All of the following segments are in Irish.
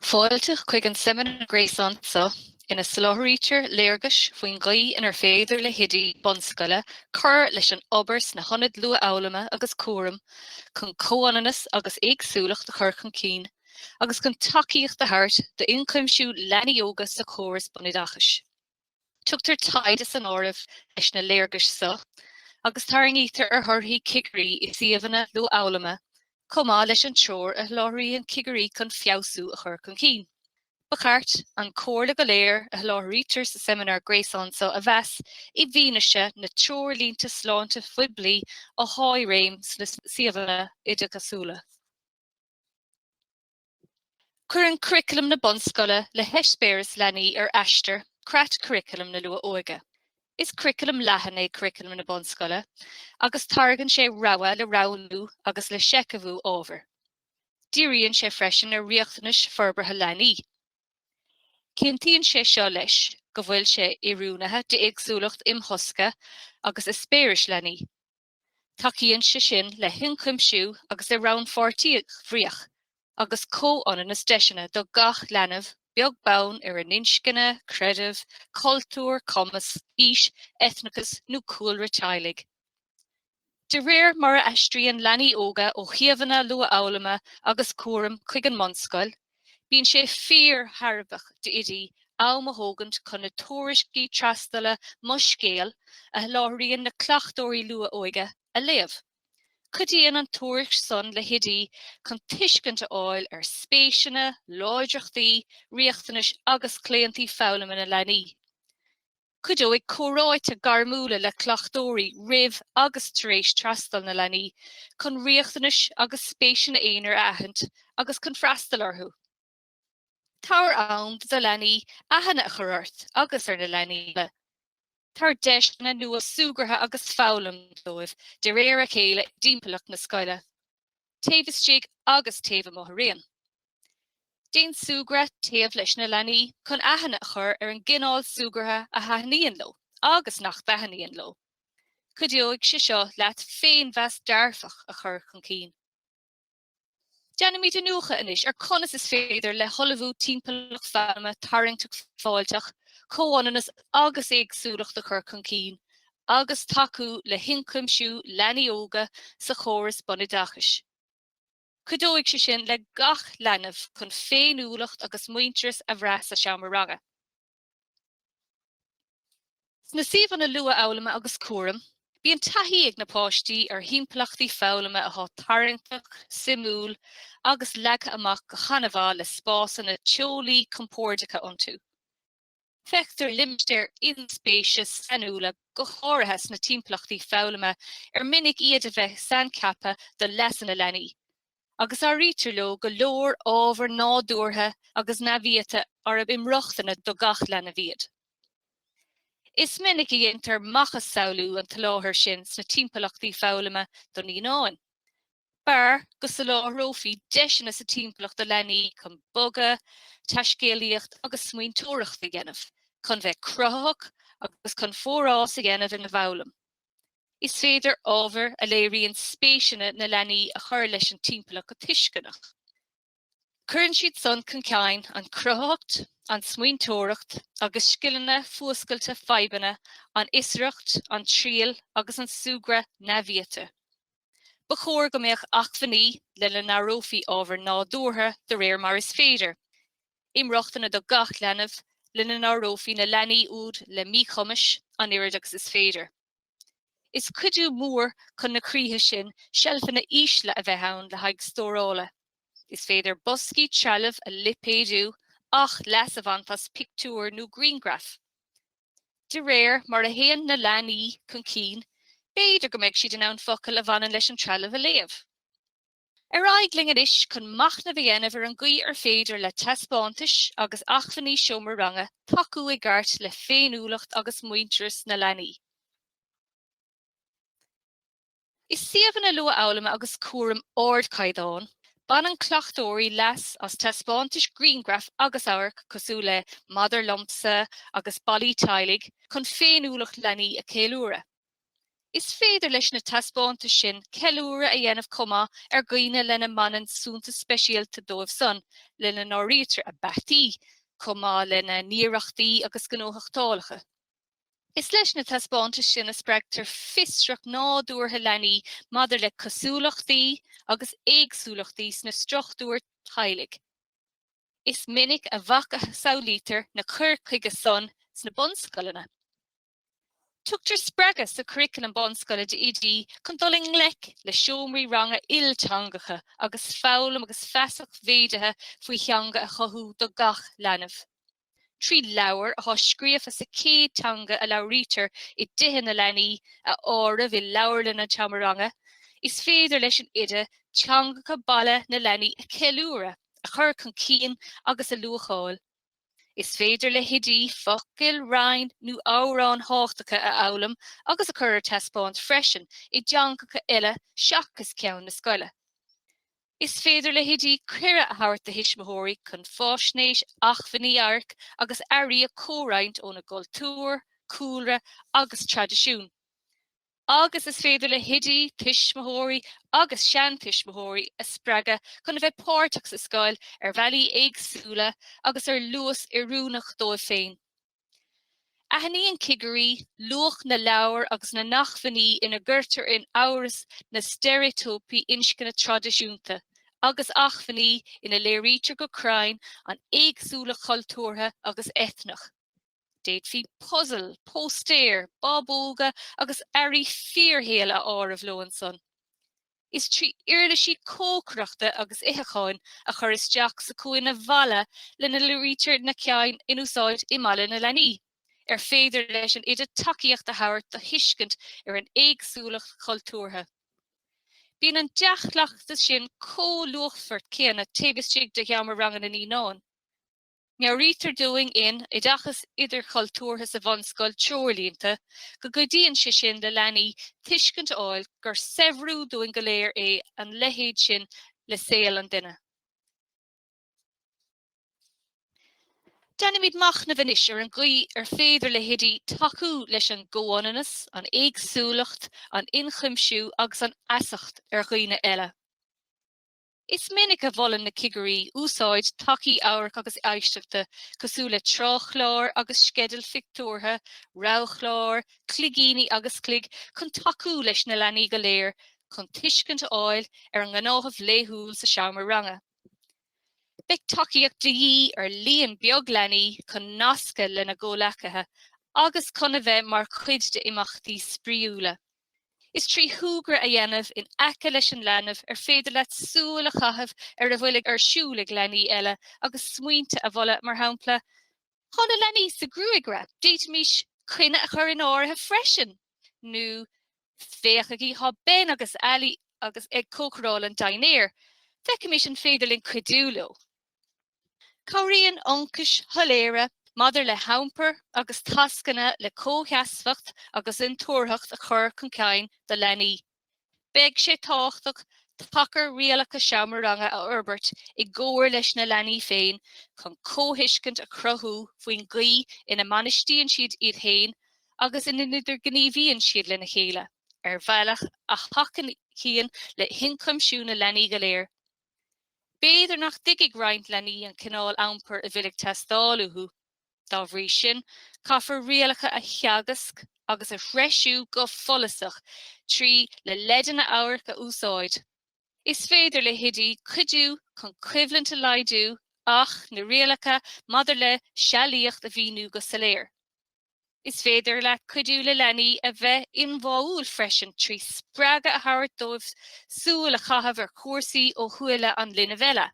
Fáilte chuig an seimineár gréasáin seo ina soláthraítear léargais faoin gcaoi inar féidir le hoidí bunscoile cur leis an obair sna hionaid luathfhoghlama agus cúraim chun comhionannas agus éagsúlacht a chur chun cinn agus chun tacaíocht a thabhairt d'ionchuimsiú leanaí óga sa chóras bunoideachais. Tugtar taighde san áireamh leis na léargais seo agus tarraingítear ar thorthaí cigirí i suíomhanna luathfhoghlama chomh maith leis an treoir a sholáthraíonn cigirí chun feabhsú a chur chun cinn. Ba cheart an chomhairle go léir a sholáthraítear sa seimineár gréasáin seo a mheas i bhfianaise na dtreoirlínte sláinte phoiblí atá i réim sna suíomhanna oideachasúla. Cuireann curriculum na bunscoile le heispéiris leanaí ar Aistear, creat curriculum na luath-óige. Is curriculum leathan é curriculum na bunscoile agus tairgeann sé rogha le roghnú agus le seicheamhú ábhair. Díríonn sé freisin ar riachtanais forbartha leanaí. Cinntíonn sé seo leis go bhfuil sé oiriúnaithe d'éagsúlacht imthosca agus eispéiris leanaí. Tacaíonn sé sin le hionchuimsiú agus i rannpháirtíocht bhríoch agus comhionannas deiseanna do gach leanbh, beag beann ar a n-inscne, creideamh, cultúr, cumas, aois, eitneachas nó cúlra teaghlaigh. De réir mar a aistríonn leanaí óga ó shuíomhanna luathfhoghlama agus cúraim chuig an mbunscoil, Bíonn sé fíor-thairbheach d'oidí am a thógaint chun na tuairiscí trasdula Mo Scéal a sholáthraíonn na cleachtóirí luath-óige a léamh. Cuidíonn an tuairisc san le hoidí chun tuiscint a fháil ar spéiseanna, láidreachtaí, riachtanais agus claontaí foghlama na leanaí. Cuideoidh comhráite gairmiúla le cleachtóirí roimh agus tar éis trasdul na leanaí chun riachtanais agus spéiseanna aonair a aithint agus chun freastal orthu. Tabhair am do leanaí aithne a chur ort agus ar na leanaí eile. Tabhair deiseanna nua súgartha agus foghlaim dóibh de réir a chéile i dtimpeallacht na scoile. taobh istigh agus taobh amuigh araon. Déan súgradh taobh leis na leanaí chun aithne a chur ar an gcineál súgartha a thaitníonn leo agus nach dtaitníonn leo. Cuideoidh sé seo leat féinmheas dearfach a chur chun cinn. Déanfaimid iniúchadh anois ar conas is féidir le hullmhú timpeallacht fhoghlama tarraingteach fáilteach, comhionannas agus éagsúlacht a chur chun cinn agus tacú le hionchuimsiú leanaí óga sa chóras bunoideachais. Cuideoidh sé sin le gach leanbh chun féiniúlacht agus muintearas a bhrath sa seomra ranga. Sna suíomhanna luathfhoghlama agus cúraim, bíonn taithí ag na páistí ar thimpeallachtaí foghlama atá tarraingteach, suimiúil agus leagtha amach go han-mhaith le spásanna teolaí compordacha iontu. Feictear limistéir inspéise sainiúla go háirithe sna timpeallachtaí foghlama ar minic iad a bheith saincheaptha do leasanna leanaí, agus áirítear leo go leor ábhair nádúrtha agus neamhiata arb inrochtana do gach leanbh iad. Is minic a dhéantar macasamhlú an tsoláthair sin sna timpeallachtaí foghlama do naíonáin. B'fhearr go soláthrófaí deiseanna sa timpeallacht do leanaí chun bogadh, taiscéalaíocht agus smaointeoireacht a dhéanamh, chun bheith cruthaitheach agus chun forás a dhéanamh ina bhfoghlaim. Is féidir ábhair a léiríonn spéiseanna na leanaí a chur leis an timpeallacht go tuisceanach. Cuireann siad san chun cinn an cruthaitheacht, an smaointeoireacht agus scileanna fuascailte fadhbanna, an fhiosracht, an triail agus an súgradh neamhiata. Ba chóir go mbeadh acmhainní lena n-áireofaí ábhair nádúrtha de réir mar is féidir, inrochtana do gach leanbh, lena n-áireofaí na leanaí úd le míchumais an oiread agus is féidir. Is cuidiú mór chun na críche sin seilfeanna ísle a bheith ann le haghaidh stórála. Is féidir boscaí trealaimh a lipéadú ach leas a bhaint as pictiúir nó grianghraif. De réir mar a théann na leanaí chun cinn, b'fhéidir go mbeidh siad in ann focail a bhaineann leis an trealamh a léamh. Ar aghaidh linn anois chun machnamh a dhéanamh ar an gcaoi ar féidir le taispeántais agus acmhainní seomra ranga tacú i gceart le féiniúlacht agus muintearas na leanaí. I suíomhanna luathfhoghlama agus cúraim ardchaighdeáin, baineann cleachtóirí leas as taispeántais grianghraf agus amhairc cosúil le 'Maidir Liomsa' agus 'Ballaí Teaghlaigh' chun féiniúlacht leanaí a cheiliúradh. Is féidir leis na taispeántais sin ceiliúradh a dhéanamh chomh maith ar dhaoine lena mbaineann suntas speisialta dóibh san, lena n-áirítear a bpeataí, chomh maith lena n-iarrachtaí agus gnóthachtálacha. Is leis na taispeántais sin a spreagtar fiosracht nádúrtha leanaí maidir le cosúlachtaí agus éagsúlachtaí sna struchtúir teaghlaigh. Is minic a mhacasamhlaítear na cuir chuige san sna bunscoileanna. Tugtar spreagadh sa churriculum bunscoile d'oidí chun dul i ngleic le seomraí ranga ilteangacha agus foghlaim agus feasacht mhéadaithe faoi theanga a chothú do gach leanbh. Trí leabhair atá scríofa sa chéad teanga a labhraítear i dtithe na leanaí a áireamh i leabharlann an tseomra ranga, is féidir leis an oide teangacha baile na leanaí a cheiliúradh, a chur chun cinn agus a luacháil. Is féidir le hoidí focail, rainn nó amhráin thábhachtacha a fhoghlaim agus a chur ar taispeáint freisin i dteangacha eile seachas ceann na scoile. Is féidir le hoidí cuireadh a thabhairt do thuismitheoirí chun faisnéis, acmhainní, amhairc agus earraí a chomhroinnt óna gcultúr, cúlra agus traidisiún. agus is féidir le hoidí tuismitheoirí agus seantuismitheoirí a spreagadh chun a bheith páirteach sa scoil ar bhealaí éagsúla agus ar luas oiriúnach dóibh féin. Aithníonn cigirí luach na leabhar agus na n-acmhainní ina gcuirtear in amhras na steiréitíopaí inscne traidisiúnta agus acmhainní ina léirítear go cruinn an éagsúlacht chultúrtha agus eitneach. D'fhéadfaí puzail, póstaeir, bábóga agus earraí fíorshaoil a áireamh leo ansan. Is trí uirlisí cócaireachta agus itheacháin a chur isteach sa chúinne bhaile lena léirítear na cinn in úsáid i mbaile na leanaí ar féidir leis an oide tacaíocht a thabhairt do thuiscint ar an éagsúlacht chultúrtha. Bíonn an dea-chleachtas sin chomh luachmhar céanna taobh istigh de sheomra ranga na naíonán. Meabhraítear dúinn in Oideachas Idirchultúrtha sa Bhunscoil, Treoirlínte, go gcuidíonn sé sin le leanaí tuiscint a fháil gur saibhriú dúinn go léir é an leithéid sin le saol an duine. Déanaimis machnamh anois ar an gcaoi ar féidir le hoidí tacú leis an gcomhionannas, an éagsúlacht, an ionchuimsiú agus an fheasacht ar dhaoine eile. Is minic a mholann na cigirí úsáid tacaí amhairc agus éisteachta cosúil le tráthchláir agus sceidil phictiúrtha, roghchláir, cloigíní agus cloig chun tacú leis na leanaí go léir chun tuiscint a fháil ar an ngnáthamh laethúil sa seomra ranga. Beidh tacaíocht de dhíth ar líon beag leanaí chun nascadh lena gcomhleacaithe agus chun a bheith mar chuid d'imeachtaí spraíúla. Is trí shúgradh a dhéanamh in aice leis an leanbh ar féidir leat súil a chaitheamh ar a bhfuil ar siúl ag leanaí eile agus smaointe a mholadh, mar shampla, Tá na leanaí sa ghruagaire, d'fhéadfaimis coinne a chur in áirithe freisin! nó Féachaigí, tá Ben agus Ali agus ag cócaráil an dinnéir, feicimis an féidir linn cuidiú leo! Cabhraíonn ionchais shoiléire maidir le hiompar agus tascanna le comhsheasmhacht agus intuarthacht a chur chun cinn do leanaí. Beidh sé tábhachtach tacar rialacha seomra ranga a fhorbairt i gcomhar leis na leanaí féin chun comhthuiscint a chruthú faoin gcaoi ina mbainistíonn siad iad féin agus ina n-idirghníomhaíonn siad lena chéile ar bhealach a thacaíonn le hionchuimsiú na leanaí go léir. B'fhéidir nach dtuigfidh roinnt leanaí an cineál iompair a bhfuil ag teastáil uathu. Dá bhrí sin, caithfear rialacha a theagasc agus a threisiú go follasach trí le leideanna amhairc a úsáid. Is féidir le hoidí cuidiú chun coimhlint a laghdú ach na rialacha maidir le sealaíocht a mhíniú go soiléir. Is féidir leat cuidiú le leanaí a bheith ionbháúil freisin trí spreagadh a thabhairt dóibh súil a chaitheamh ar chúrsaí ó shúile an linbh eile.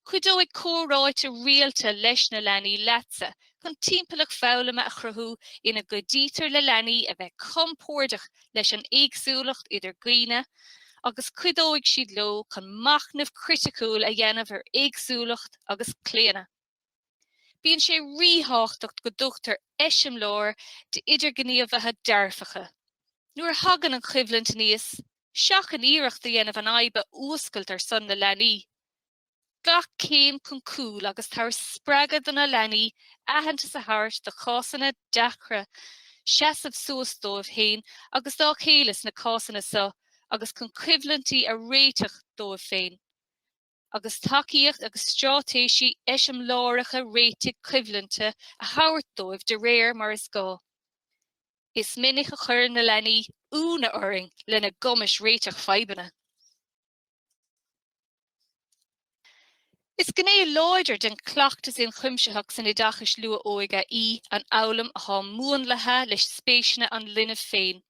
Cuideoidh comhráite rialta leis na leanaí leatsa chun timpeallacht foghlama a chruthú ina gcuidítear le leanaí a bheith compordach leis an éagsúlacht idir dhaoine agus cuideoidh siad leo chun machnamh criticiúil a dhéanamh ar éagsúlacht agus claonadh. Bíonn sé ríthábhachtach go dtugtar eiseamláir d'idirghníomhaithe dearfacha. Nuair a thagann an choimhlint aníos, seachain iarracht a dhéanamh an fhadhb a fhuascailt ar son na leanaí. Glac céim chun cúil agus tabhair spreagadh do na leanaí aitheantas a thabhairt do chásanna deacra, seasamh suas dóibh féin agus dá chéile sna cásanna seo agus chun coimhlintí a réiteach dóibh féin. agus tacaíocht agus straitéisí eiseamláireacha réitigh coimhlinte a thabhairt dóibh de réir mar is gá. Is minic a chuireann na leanaí ionadh orainn lena gcumas réiteach fadhbanna. Is gné láidir den chleachtas ionchuimsitheach san oideachas luath-óige í an fhoghlaim atá múnlaithe leis spéiseanna an linbh féin.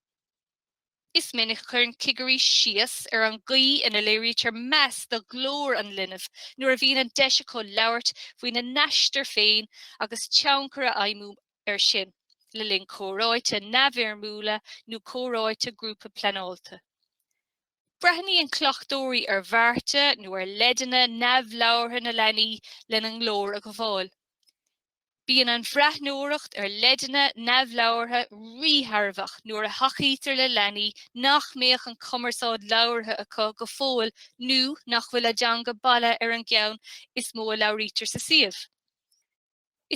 Is minic a chuireann cigirí síos ar an gcaoi ina léirítear meas do ghlór an linbh nuair a bhíonn an deis acu labhairt faoina n-aistear féin agus tionchar a fheidhmiú air sin le linn comhráite neamhfhoirmiúla nó comhráite grúpa pleanálta. Breathnaíonn cleachtóirí ar bhearta nó ar leideanna neamhlabhartha na leanaí lena nglór a ghabháil. Bíonn an bhreathnóireacht ar leideanna neamhlabhartha ríthairbheach nuair a thacaítear le leanaí nach mbeadh an chumarsáid labhartha acu go fóill nó nach bhfuil a dteanga baile ar an gceann is mó a labhraítear sa suíomh.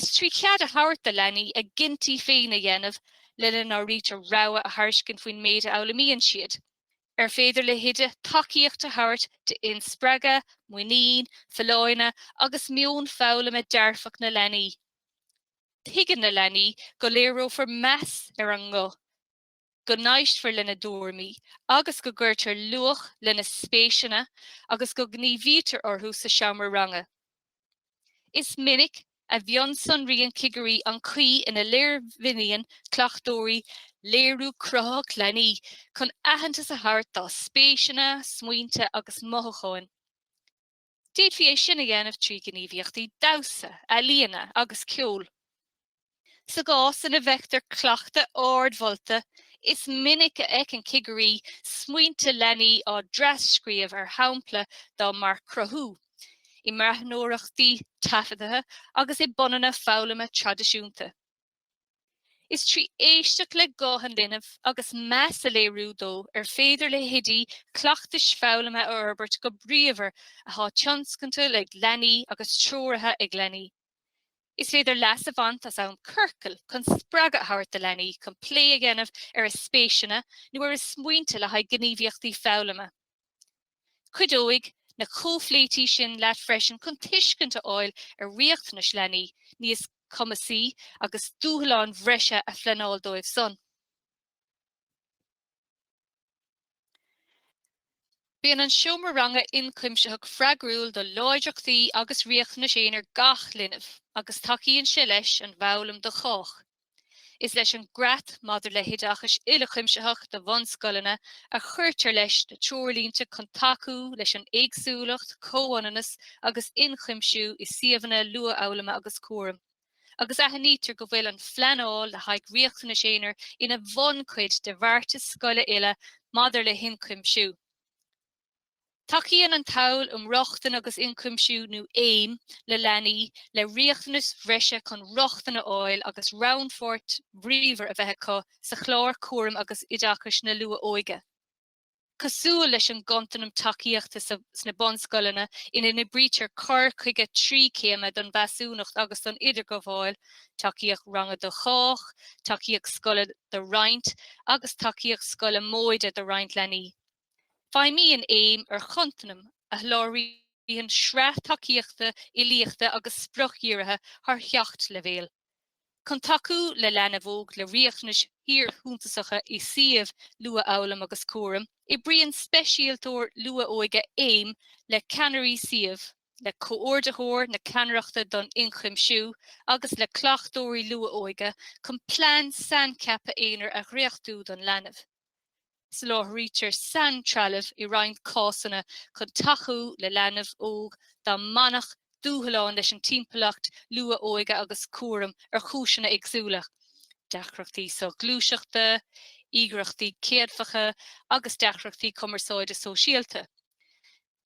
Is trí chead a thabhairt do leanaí a gcinntí féin a dhéanamh, lena n-áirítear rogha a thairiscint faoin méid a fhoghlaimíonn siad, ar féidir le hOide tacaíocht a thabhairt d'inspreagadh, muinín, folláine agus meon foghlama dearfach na leanaí. Tuigeann na leanaí go léireofar meas ar a nguth, go n-éistfear lena dtuairimí agus go gcuirtear luach lena spéiseanna agus go ngníomhaítear orthu sa seomra ranga. Is minic a mhionsonraíonn cigirí an chaoi ina léirmhíníonn cleachtóirí léiriú cruthaitheach leanaí chun aitheantas a thabhairt dá spéiseanna, smaointe agus mothúcháin. D'fhéadfaí é sin a dhéanamh trí ghníomhaíochtaí damhsa, ealaíne agus ceoil. Sa gcás ina bhfeictear cleachtadh ardmholta, is minic a fheiceann cigirí smaointe leanaí á dtras-scríobh ar shamplaí dá marc cruthú, i mbreathnóireachtaí taifeadta agus i bpunanna foghlama traidisiúnta. Is trí éisteacht le guth an linbh agus meas a léiriú dó ar féidir le hoidí cleachtais foghlama a fhorbairt go bríomhar atá tionscanta ag leanaí agus treoraithe ag leanaí. Is féidir leas a bhaint as am ciorcail chun spreagadh a thabhairt do leanaí chun plé a dhéanamh ar a spéiseanna nó ar a smaointe le haghaidh gníomhaíochtaí foghlama. Cuideoidh na comhphléití sin leat freisin chun tuiscint a fháil ar riachtanais leanaí níos cumasaí agus dúshláin bhreise a phleanáil dóibh san. Bíonn an seomra ranga ionchuimsitheach freagrúil do láidreachtaí agus riachtanais aonair gach linbh agus tacaíonn sé leis an bhfoghlaim do chách. Is leis an gCreat maidir le hOideachas Uilechuimsitheach do Bhunscoileanna a chuirtear leis na treoirlínte chun tacú leis an éagsúlacht, comhionannas agus ionchuimsiú i suíomhanna luathfhoghlama agus cúraim. agus aithnítear go bhfuil an phleanáil le haghaidh riachtanais aonair ina bhunchuid de bheartas scoile uile maidir le hionchuimsiú. Tacaíonn an tSamhail um Rochtain agus Ionchuimsiú nó aim le leanaí le riachtanais bhreise chun rochtain a fháil agus rannpháirt bhríomhar a bheith acu sa chlár cúraim agus oideachais na luath-óige. Cosúil leis an gcontanam tacaíochta sna bunscoileanna ina n-oibrítear cur chuige trí chéime don mheasúnacht agus don idirghabháil, tacaíocht ranga do chách, tacaíocht scoile do roinnt agus tacaíocht scoile móide do roinnt leanaí, feidhmíonn aim ar chontanam a sholáthraíonn sraith tacaíochta uilíochta agus spriocdhírithe thar sheacht leibhéal. Chun tacú le leanbh óg le riachtanais fhíorshuntasacha i suíomh luathfhoghlaim agus cúraim, oibríonn speisialtóir luath-óige aim le ceannairí suímh, le Comhordaitheoir na Ceannaireachta don Ionchuimsiú agus le cleachtóirí luath-óige chun plean saincheaptha aonair a dhréachtú don leanbh. Soláthraítear saintrealamh i roinnt cásanna chun tacú le leanbh óg dá mbainfeadh dúshlán leis an timpeallacht luath-óige agus cúraim ar chúiseanna éagsúla, deacrachtaí soghluaiseachta, íogaireachtaí céadfacha agus deacrachtaí cumarsáide sóisialta.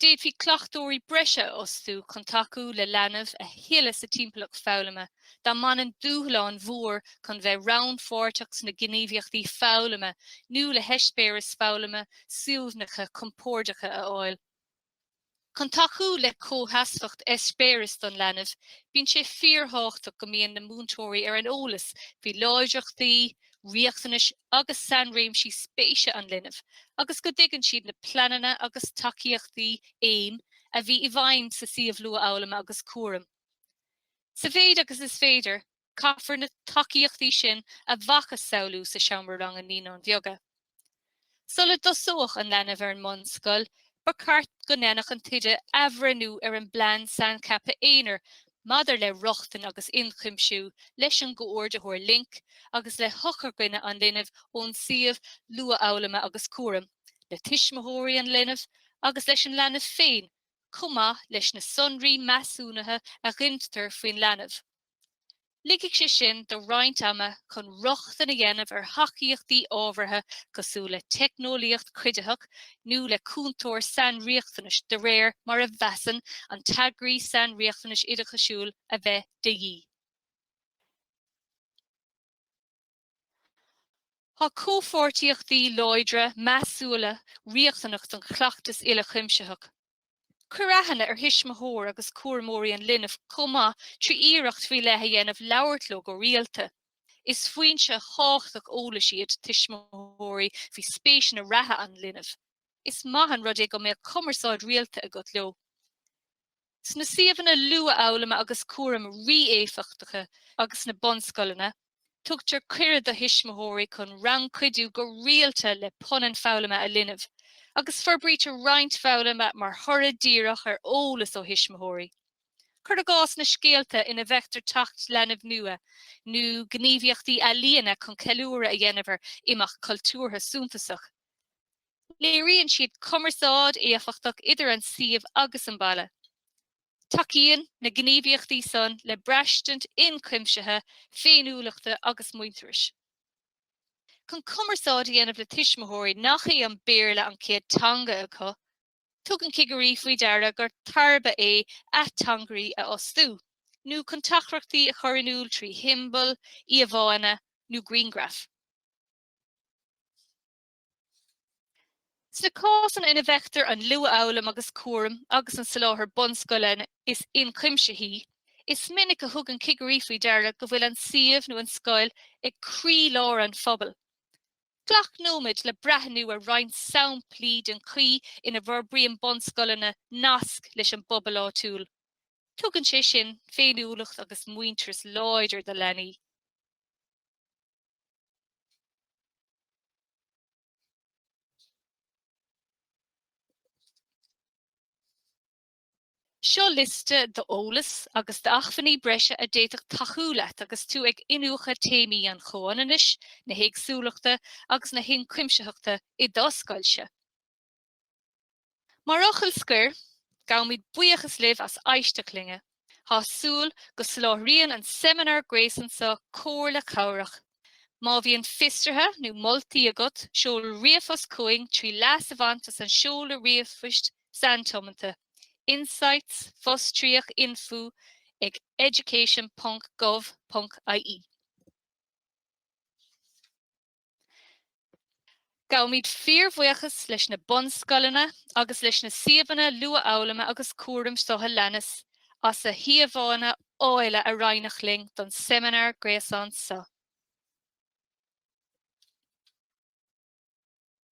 D'fhéadfaí cleachtóirí breise a fhostú chun tacú le leanbh a thuilleadh sa timpeallacht foghlama dá mbainfeadh dúshlán mhór chun bheith rannpháirteach sna gníomhaíochtaí foghlama nó le heispéiris foghlama suaimhneacha compordacha a fháil. Chun tacú le comhsheasmhacht eispéiris don leanbh, bíonn sé fíorthábhachtach go mbíonn na múinteoirí ar an eolas faoi láidreachtaí, riachtanais agus sainréimsí spéise an linbh agus go dtuigeann siad na pleananna agus tacaíochtaí AIM a bhí i bhfeidhm sa suíomh luathfhoghlama agus cúraim. Sa mhéid agus is féidir, caithfear na tacaíochtaí sin a mhacasamhlú sa seomra ranga Naíonáin Bheaga. Sula dtosódh an leanbh ar an mbunscoil, ba cheart go ndéanfadh an t-oide athbhreithniú ar an bplean saincheaptha aonair maidir le rochtain agus ionchuimsiú leis an gComhordaitheoir Linc agus le heochairdhuine an linbh ón suíomh luathfhoghlama agus cúraim, le tuismitheoirí an linbh agus leis an leanbh féin chomh maith leis na sonraí measúnaithe a ghintear faoin leanbh. Ligfidh sé sin do roinnt ama chun rochtain a dhéanamh ar thacaíochtaí ábhartha cosúil le teicneolaíocht chuiditheach nó le cúntóir sainriachtanais de réir mar a mheasann an t-eagraí sainriachtanais oideachasúil a bheith de dhíth. Tá comhpháirtíochtaí láidre, measúla riachtanach don chleachtas uilechuimsitheach. Cuir aithne ar thuismitheoirí agus cúramóirí an linbh chomh maith trí iarracht faoi leith a dhéanamh labhairt leo go rialta. Is foinse thábhachtach eolais iad tuismitheoirí faoi spéiseanna reatha an linbh. Is maith an rud é go mbeadh cumarsáid rialta agat leo. Sna suíomhanna luathfhoghlama agus cúraim rí-éifeachtacha agus sna bunscoileanna, tugtar cuireadh do thuismitheoirí chun rannchuidiú go rialta le punann foghlama a linbh, agus forbraítear roinnt foghlama mar thoradh díreach ar eolas ó thuismitheoirí. Cuir i gcás na scéalta ina bhfeictear teacht linbh nua, nó gníomhaíochtaí ealaíona chun ceiliúradh a dhéanamh ar imeacht cultúrtha suntasach. Léiríonn siad cumarsáid éifeachtach idir an suíomh agus an baile. Tacaíonn na gníomhaíochtaí san le braistint ionchuimsithe féiniúlachta agus muintearais. Chun cumarsáid a dhéanamh le tuismitheoirí nach é an Béarla an chéad teanga acu, tugann cigirí faoi deara gur tairbhe é ateangairí a fhostú, nó chun teachtaireachtaí a chur in iúl trí shiombail, íomhánna nó grianghraif. Sna cásanna ina bhfeictear an luathfhoghlaim agus cúram agus an soláthar bunscoile is inchuimsithí, is minic a thugann cigirí faoi deara go bhfuil an suíomh nó an scoil ag croílár an phobail. Glac nóiméad le breathnú ar roinnt samplaí den chaoi ina bhforbraíonn bunscoileanna nasc leis an bpobal áitiúil. Tugann sé sin féiniúlacht agus muintearas láidir do leanaí. Seo liosta d'eolas agus d'acmhainní breise a d'fhéadfadh tacú leat agus tú ag iniúchadh téamaí an chomhionannais, na héagsúlachta agus na hionchuimsitheachta i do scoilse. Mar fhocal scoir, gabhaimid buíochas libh as éisteacht linn. Tá súil go soláthraíonn an seimineár gréasáin seo comhairle cabhrach. Má bhíonn fiosruithe nó moltaí agat, seol ríomhphost chugainn trí leas a bhaint as an seoladh ríomhphoist saintiomanta, insights, fostríoch, info ag education.gov.ie. Gabhaimid fíorbhuíochas leis na bunscoileanna agus leis na suíomhanna luathfhoghlama agus cúraim seo a leanas as a híomhánna áille a roinneadh linn don seimineár gréasáin seo.